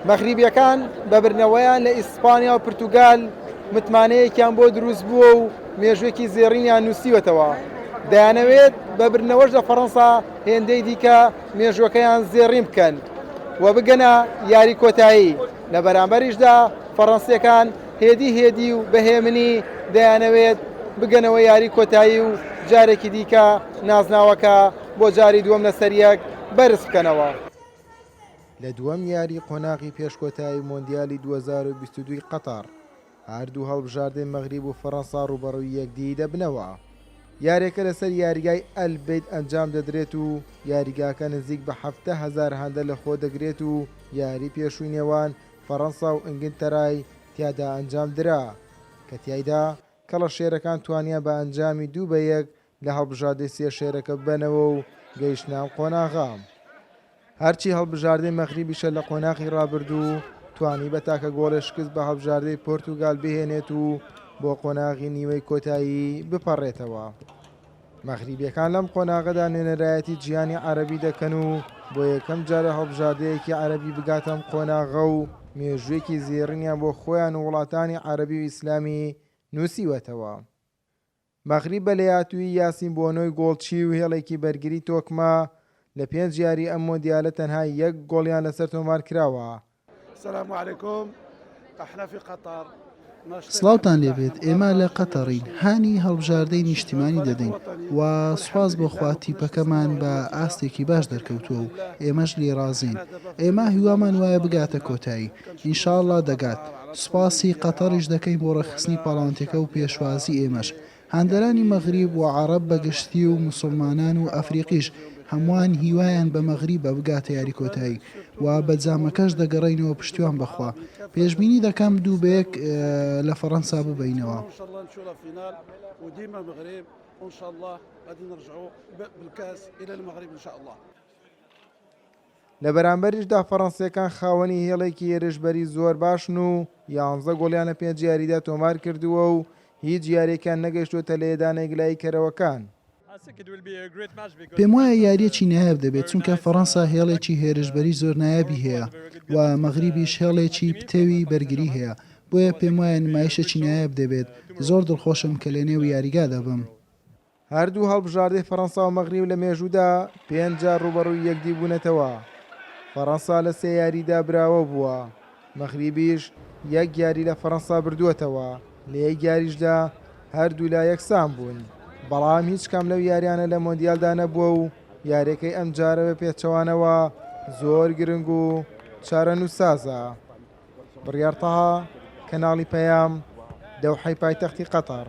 مەغریبییەکان بە بردنەوەیان لە ئیسپانیا و پرتوگال متمانەیەکیان بۆ دروستبووە و مێژووێکی زێڕینیان نووسیوەتەوە، دەیانەوێت بە بردنەوەش لە فەرەنسا هێندەی دیکە مێژووەکەیان زێڕین بکەن و بگەنە یاری کۆتایی، لە بەرامبەریشدا فەرەنسییەکان هێدی هێدی و بە هێمنی دەیانەوێت بگەنەوە یاری کۆتایی و جارێکی دیکە نازناوەکە بۆ جاری دووەم لەسەریەک بەرزبکەنەوە. لە دووەم یاریی قۆناغی پێش کۆتایی مۆندیالی دوو هەزار و بیست و دوو ی قەتەڕ، هەردوو هەڵبژاردەی مەغریب و فەرەنسا رووبەڕووی یەکدیی دەبنەوە. یارییەکە لەسەر یاریگای ئەل بەیت ئەنجام دەدرێت و یاریگاکە نزیک بە حەفتا هەزار هەندە لەخۆدەگرێت و یاریی پێشووی نێوان فەرەنسا و ئینگلتەرای تیادا ئەنجامدرا کە تیایدا کەڵەشێرەکان توانیان بە ئەنجامی دوو بە یەک لە هەڵبژاردەی سێ شێرەکە ببەنەوە و گەیشتنە ئەم قۆناغە. هەرچی هەڵبژاردەی مەغریبیشە لە قۆناغی رابردوو توانی بە تاکە گۆڵێ شکست بە هەڵبژاردەی پۆرتوگال بهێنێت و بۆ قۆناغی نیوەی کۆتایی بپەڕێتەوە. مەغریبیەکان لەم قۆناغەدا نوێنەرایەتی جیهانی عەرەبی دەکەن و بۆ یەکەم جارە هەڵبژاردەیەکی عەرەبی بگاتە ئەم قۆناغە و مێژوویەکی زێڕینیان بۆ خۆیان و وڵاتانی عەرەبی و ئیسلامی نووسیوەتەوە. مەغریب بە لێهاتوویی یاسین بۆنۆی گۆڵچی و هێڵێکی بەرگری تۆکمە، لە پێنج یاریی ئەم مۆندیالە تەنها یەک گۆڵیان لەسەر تۆمارکراوە. سڵاوتان لێ بێت، ئێمە لە قەتەڕین، هانی هەڵبژاردەی نیشتیمانی دەدەین و سوپاس بۆ خوا تیپەکەمان بە ئاستێکی باش دەرکەوتووە و ئێمەش لێی ڕازین. ئێمە هیوامان وایە بگاتە کۆتایی. انشاللە دەگات، سوپاسی قەتەڕیش دەکەین بۆ ڕێکخستنی پاڵاوتنەکە و پێشوازی ئێمەش. هاندەرانی مەغریب و عەڕەب بە گشتی و موسڵمانان و ئەفریقیش هەمووان هیوایان بە مەغریبە بگاتە یاری کۆتایی و بە جامەکەش دەگەڕێینەوە پشتیوان بە خوا پێشبینی دەکەم دوو بە یەک لە فەڕەنسا ببەینەوە. لە بەرامبەریشدا فەرەنسییەکان خاوەنی هێڵێکی هێرشبەری زۆر باشن و یانزە گۆڵیان لە پێنج یاریدا تۆمارکردووە و هیچ یارییەکیان نەگەیشتووەتە لێدانە یگلاییکەرەوەکان. پێموایە یارییەکی نایاب دەبێت، چونکە فەرەنسا هێڵێکی هێرشبەری زۆر نایابی هەیە و مەغریبیش هێڵێکی پتەوی بەرگری هەیە، بۆیە پێموایە نمایشێکی نایاب دەبێت، زۆر دڵخۆشم کە لەنێو یاریگادا بم. هەردوو هەڵبژاردەی فەرەنسا و مەغریب لە مێژوودا پێنج جار ڕووبەڕووی یەکدی بوونەتەوە، فەرەنسا لە سێ یاریدا براوە بووە، مەغریبیش یەک یاری لە فەرەنسا بردووەتەوە، لە یەک یاریشدا هەردوولا یەکسان بوون، بەڵام هیچ کام لەو یاریانە لە مۆندیالدا نەبووە و یاریەکەی ئەمجارە بە پێچەوانەوە زۆر گرنگ و چارەنووسسازە. بڕیار تەها، کەناڵی پەیام، دەوحەی پایتەختی قەتەڕ.